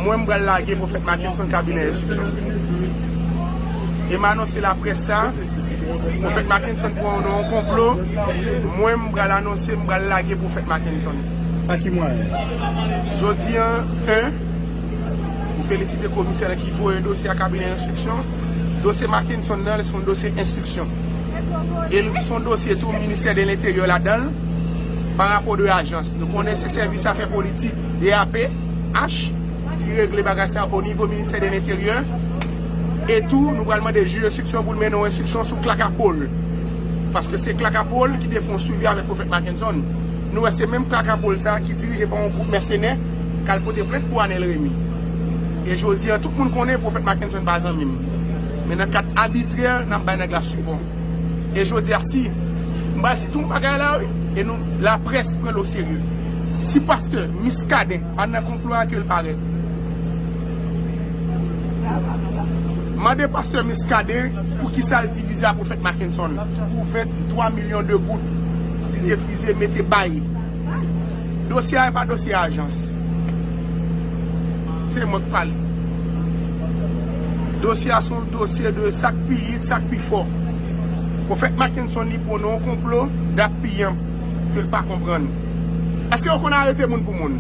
Mwen m pral lage Pwofèt Mackenson kabinè enstriksyon. E m anonse laprès sa, Pwofèt Mackenson pran w nan yon konplo, mwen m pral anonse m pral lage Pwofèt Mackenson. Pa ki mwayen? Jodi an, 1, M felisite komisè lan ki voye dosye a kabinè enstriksyon. Dosye Mackenson nan, se yon dosye enstriksyon. E l se yon dosye tou ministè de lenteryè ladan l, pa rapò de ajans. Nou konnen se sèvis afè politik. DAPH, ki regle bagay sa o nivo ministè de lenteryè, e tou nou pral mande jij enstriksyon pou l mennen yon enstriksyon sou Claca Paul, paske se Claca Paul ki te fè yon swivi avèk Prophète Mackenson, nou wè se menm Claca Paul sa ki dirije pa yon gwoup mèsenè k al pote plent pou Anel Remy, e jodi a tout moun konnen Prophète Mackenson pa zanmi m, men nan kad abitrè n ap bay nèg la sipò. E jodia si m pral si tout bagay la wi e nou la près pran l o serye. Si pastè Miskaden pa nan konplo a ke l parèt. Mande pastè Miskaden pou kisa l divize a pwofèt Makenson pou 23 milyon de goud Didier Frise mete bay. Dosye a e pa dosye ajans. Se mwen k pale. Dosye a son. Dosye de sak pi yit sak pi fò. Profèt Mackenson li pwonnen yon konplo dat piyanp ke l pa konprann. Eske yo konn arete moun pou moun?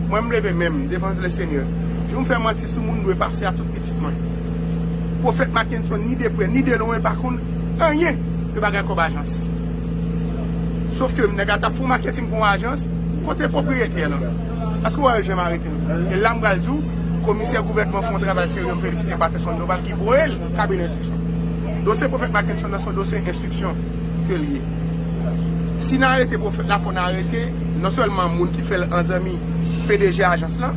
Mwen m leve men m devan le Senyè. Jou m fè manti sou moun m dwe pase a tout pitit mwen. Profèt Mackenson ni de prè ni de lwen pa konn anyen de bagay kòb ajans. Sof ke nèg la t ap fè yon maketing pou yon ajans. Kote pwopriyetè lan? Eske w wè l janm arete? E la m pral di w, komisè gouvènman fè yon travay serye, m felisite Patterson Doval ki voye l kabinè enstriksyon. Dosye pwofèt Mackenson nan se yon dosye enstriksyon ke li ye. Si n arete pwofèt la fò n arete non sèlman moun ki fè l an zanmi pdg ajans lan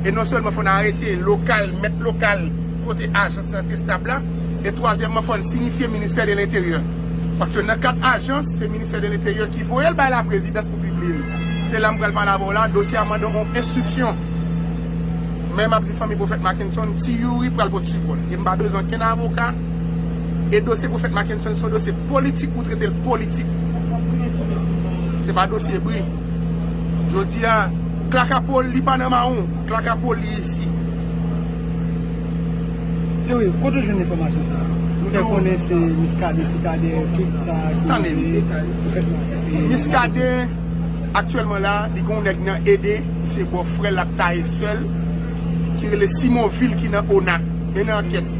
e non sèlman fò n arete lokal, mèt lokal kote ajans lan te stab la e twazyèmman fò n sinifye ministè de lenteryè paske nan kad ajans se ministè de lenteryè ki voye l bay laprezidans. pibliye l. Se la m pral pale avè w la, dosye a mande on enstriksyon. Men m ap di fanmi Pwofèt Mackenson, Ti Youri pral pot sipò l. E m pa bezwen okenn avoka. E dosye Pwofèt Mackenson se yon dosye politik pou trete l politik. Se pa dosye bri. Jodi a, klaka po l, li pa nan mawon. Klaka po l, li isi. Ti Youri, kote w jwenn enfòmasyon sa a? Ou fè konnen se Miskaden ki ta dèyè tout sa ki rive Pwofèt Mackenson. Miskaden aktyèlman la li gen yon nèg nan Ede ki se bò frèl lap taye sèl ki rele Simon Vil ki nan ona mennen ankèt.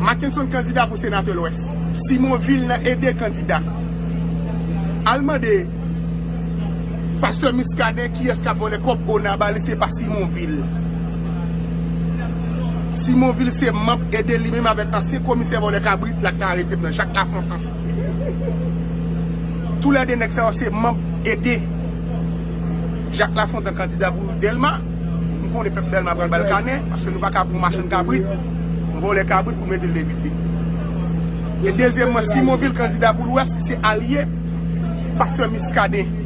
Mackenson kandida pou senatè lwès. Simon Vil nan Ede kandida. Al mande pastè Miskaden kiyès kap vòlè kòb ona bali se pa Simon Vil. Simon Vil se manb Ede li menm avèk ansyen komisè vòlè kabrit la ki te arete m nan Jak Lafontan. Tou lè 2 nèg sa yo se manb ede Jacques Lafontant kandida pou Dèlma. M konnen pèp Dèlma pral ba l kanè paske nou pa ka pran yon machann kabrit, yon vòlè kabrit pou mete l depite. E dezyèmman, Simon Vil kandida pou Lwès ki se alye pastè Miskaden.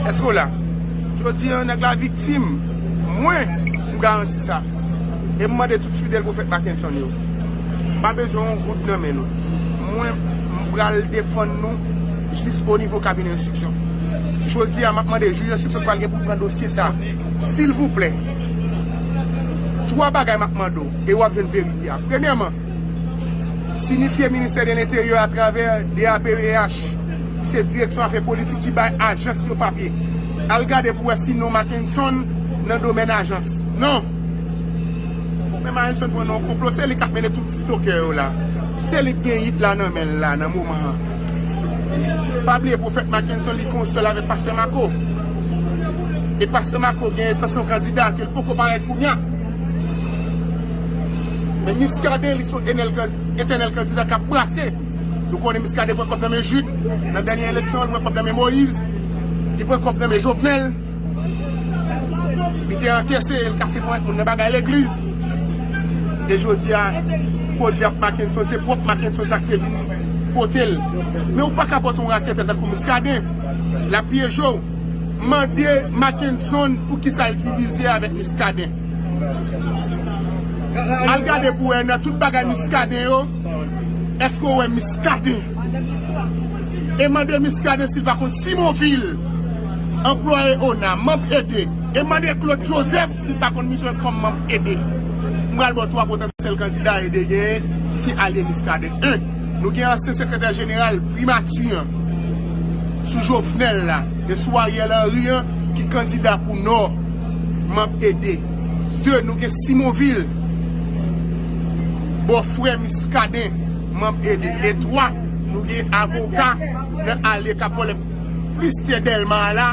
Èske w la? Jodi an nèg la viktim. Mwen, m garanti sa. E m mande tout fidèl pwofèt Makenson yo. pa bezwen yon goud nan men nou. Mwen, m pral defann nou jis o nivo kabinè enstriksyon. Jodi a, m ap mande jij enstriksyon ki pral gen pou pran dosye sa a, silvouplè, twa bagay m ap mande w e w ap jwenn verite a. Premyèman, sinifye Ministè de Lenteryè atravè DAPEH, ki se Direksyon Afè Politik ki bay ajans yo papye, al gade pou wè si non Mackenson nan domèn ajans. Non! Mwen Marenson pran nan yon konplo se li kap mennen tout tiktokè yo la se li ki gen hit la nan menl la nan moman an pa bliye profèt Makenson li fè yon sèl avèk pastè Marco e pastè Marco gen entansyon kandida kel poko parèt kounya men Miskaden li son etènèl kandida kap brase nou konnen Miskaden pran kòb nan men Jude nan dènye eleksyon li pran kòb nan men Moïse li pran kòb nan men Jovenel. Li te ankese e l kase ponyèt moun nan bagay legliz. E jodi a, podyab Makenson se pwòp Makenson sa ki te vin pote l. Men ou pa ka pote yon raketè tankou Miskaden. L ap pyeje w. Mande Makenson pou ki sa l divize avèk Miskaden. Al gade pou wè nan tout bagay Miskaden yo, èske ou wè Miskaden? Eman de Muscadin sil pa konn Simon Vil, anplwaye ona, manb ede. Eman de Claude Joseph sil pa konn misyon kòm manb ede. M pral baw 3 potansyèl kandida ede genyen ki se alye Muscadin. 1, Nou gen ansyen sekretè jeneral primati an sou Jovenel la e sou Ariel Henry an ki kandida pou nò, manb ede. 2, Nou gen Simon Vil, bò frè Muscadin. manb ede e 3 nou gen avoka nan ale kap vole plis tè delma a la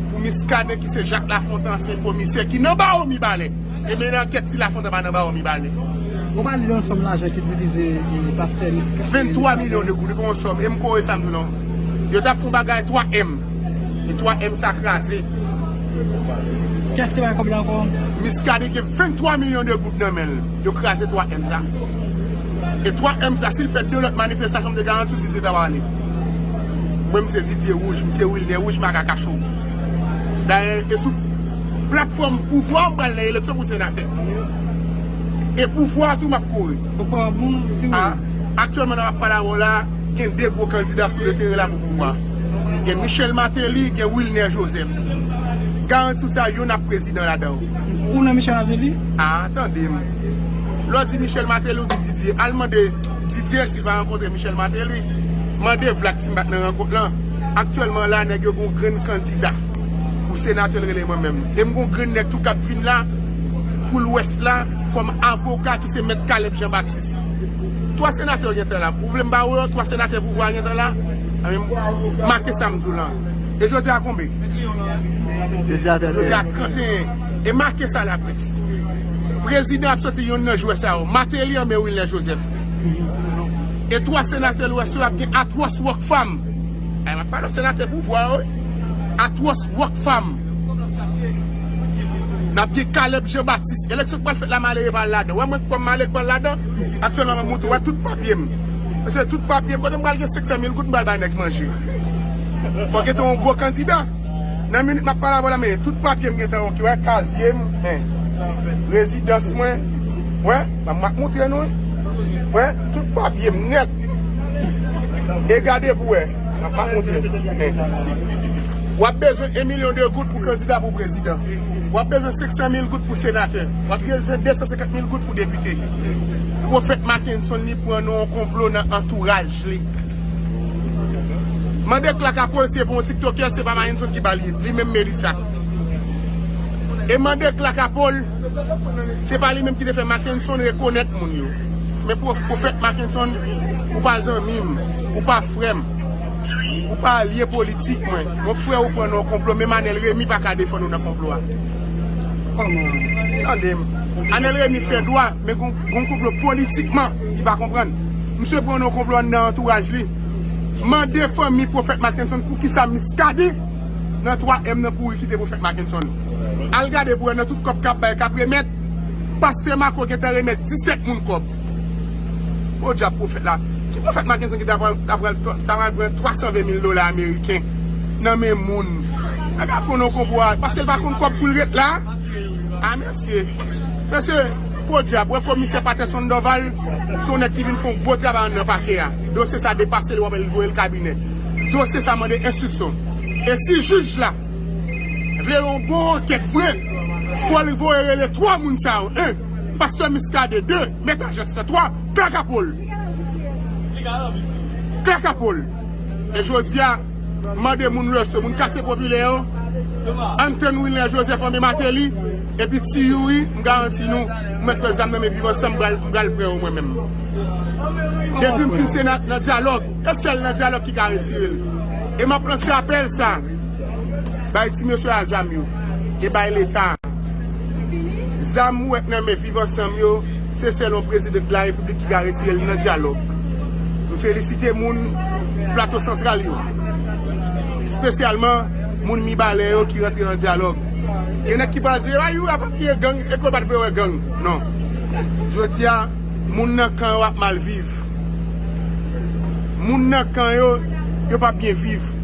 pou miskaden ki se jak lafontan ansyen komisè ki nan bawo mibalè e mennen ankèt si lafontan pa nan bawo mibalè. Ou pale de yon sòm lajan ki divize pastè miskaden. 23 milyon de goud ou pa yon sòm e m kore sa m di w nan yo tap fon bagay 3 èm e 3 èm sa kraze. Kès ki bay kòb la ankò? Miskaden gen 23 milyon de goud nan men l. Yo kraze 3 èm sa. E 3 èm sa sil fè 2 lòt manifestasyon m te garanti w Didier ta pral ale. Mwen m se Didier Rouge, m se Wilner Rouge m aka kache w. Dayè e sou platfòm pouvwa m pral nan eleksyon pou senatè. E pouvwa tou map kouri. Aktyèlman nan map pale avè w la gen 2 gwo kandida sou le teren la pou pouvwa. Gen Michel Martelly, gen Wilner Joseph. Garanti w sa yonn ap prezidan ladan. Ou nan Michel Mateli? Aa tande m Lè w di Michel Mateli ou di Didier Al mande Didier si l pa rankontre Michel Mateli Mande Vlad si m pa t nan rankont lan Aktyèlman la nèg yo gen yon grenn kandida pou senatè l rele mwen menm E m gen yon grenn nèg tou k ap vin la pou lwès la kòm avoka ki se mèt Caleb Jean Baptiste Twa senatè yo gen tan la Ou vle m ba ou yo twa senatè pouvwa a gen tan la Make sa m di w lan. E jodi a konbe? Jodi a 31. Jodi a 31. E make sa la près. Prezidan ap soti yonn nan jwè sa yo. Mateli anben Wilner Joseph. E 3 senatè lwès yo ap gen Atwòs Rockfam. Ay map pale senatè pouvwa yo wi. Atwòs Rockfam. Nap gen Caleb Jean Baptiste. Eleksyon ki pral fèt la malere pa al ladan. Ou wè mwen kòm malere ki pral ladan? Aktyèlman map montre ou wè tout papyem. Mesye tout papyem. Kote m pral gen 500 mil goud m pral bay nèg manje. Fòk gen te yon gwo kandida. Nan minit m ap pale avè w la, men tout papye m gen tan oke, wè, kazye m, men, rezidans mwen, wè, sa m ap montre nou, wè, tout papye m nèt. E gade pou w wè, m ap montre l, men. W ap bezwen 1 milyon de goud pou kandida pou prezidan. W ap bezwen 500 mil goud pou senatè. W ap bezwen 250 mil goud pou depite. Pwofèt Makenson li pran nan yon konplo nan antouraj li. Mande Clark a polsye pou yon tiktokè se pa Mahenson ki bal li, li menm Melissa. E mande Clark a pol se pa li menm ki te fè Makenson rekonèt moun yo. Men pwofèt Makenson ou pa zanmi m, ou pa frè m, ou pa alye politik mwen. Yon frè ou pran nan yon konplo menm Anel Remy pa ka defann ou nan konplo a. Tande m. Anel Remy fè dwa. Men gon konplo politikman li pa konprann. Misye pran yon konplo anndan antouraj li. Mande fanmi Pwofèt Mackenson poukisa Miskaden nan 3 èm nan kouri kite Pwofèt Mackenson. Al gade pou wè nan tout kòb kap bay, kap remèt, Pastè Marco gentan remèt 17 moun kòb. Podyab Pwofèt la. Ki Pwofèt Mackenson ki ta pral ta pral pran 320 mil dola ameriken nan men moun. Nèg la pran yon konplo a paske l pa konn kòb pou l ret la. Amen. Mesye, mesye, podyab, wè komisè Patèson Dòval, se yon nèg ki vin fè yon gwo travay anndan pakè a. Dosye sa depase l wap wè li voye l kabinè. Dosye sa mande enstriksyon. E si jij la vle yon bon ankèt vre, fò li voye rele 3 moun sa yo, 1, pastè Miskaden, 2, mèt Ajès la, 3, Klaka Pol. Klaka Pol. E jodi a. Mande moun yo se moun katye popilè yo, Anthony Wilner Joseph anbe Mateli, epi Ti Youri, m garanti nou, m mèt wè zam nan men viv ansanm m pral pran yo mwen menm. Depi m fin se nan dyalòg, e sèl nan dyalòg ki ka retire l. E m ap lanse apèl sa a, bay ti mesye a zam yo, e bay leta zam ou wè k nan men. Viv ansanm yo, se sèl yon president la repiblik ki ka retire li nan dyalòg. M felisite moun plato santral yo, spesyalman moun mibalè yo ki rantre nan dyalòg. Gen nèg ki pral di, a youri a pa kriye gang, e ke w pa t vle wè gang. Non. Jodi a, moun nan kan yo ap mal viv. Moun nan kan yo, yo p ap byen viv.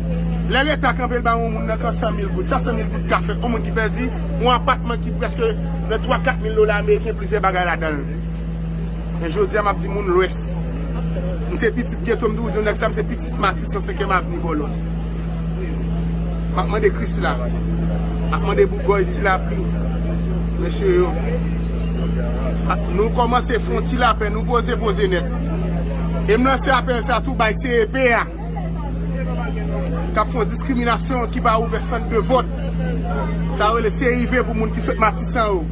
Lè leta kanpe l ba yon moun nan kan 100 mil goud, sa 100 mil goud ka fè? Yon moun ki pèdi? Yon apatman ki prèske nan 3, 4 mil dola ameriken plizyè bagay ladan l. Men jodi a m ap di moun lwès. M se pitit geto m toujou di yon nèg sa m se pitit Matis 105 èm avni Bòlòs. M ap mande Krisla, m ap mande Bougòy ti lapli, mesye yo. Nou kòmanse fon ti lapè, nou poze poze nèt. E m lanse apèl sa tou bay CEP a. K ap fè yon diskriminasyon ki pa ouvè sant de vòt. Sa yo rele CIV pou moun ki sot Matisan yo.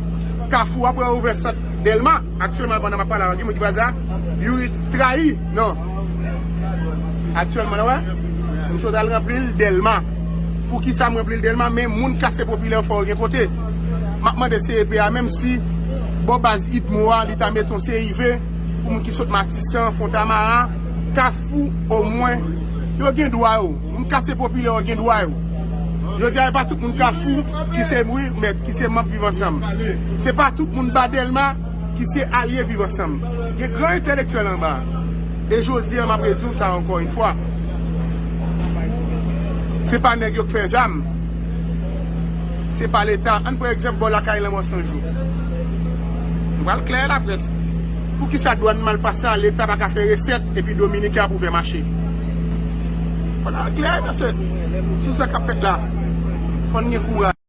Kafou a pral ouvè sant Dèlma. Aktyèlman pandan m ap pale a la, gen moun ki pral di a, Youri trayi. Non. Aktyèlman la wè, m sot al ranpli l Dèlma. Pou ki sa m ranpli l Dèlma? Men moun katye popilè yo fò yo gen kote. M ap mande CEP a menm si bò baz IDMO a li ta mete yon CIV pou moun ki sot Matisan, Fontamara, Kafou. fou o mwen yo gen dwa yo moun katye popilè yo gen dwa yo jodi a e pa tout moun kafou ki se wi mèt ki se manb viv ansanm se pa tout moun ba dèlma ki se alye viv ansanm gen gran entèlektyèl anba e jodi a map redi w sa ankò yn fwa se pa nèg yo k fè zam se pa leta ann pran egzanp bò lakay lanmò sanjou nou pral klè laprès. Poukisa dwan mal pase a leta paka fè resèt epi dominiken ap ouvè mache. Fò n al klè nan se sou sa kap fèt la. Fò n gen kouraj.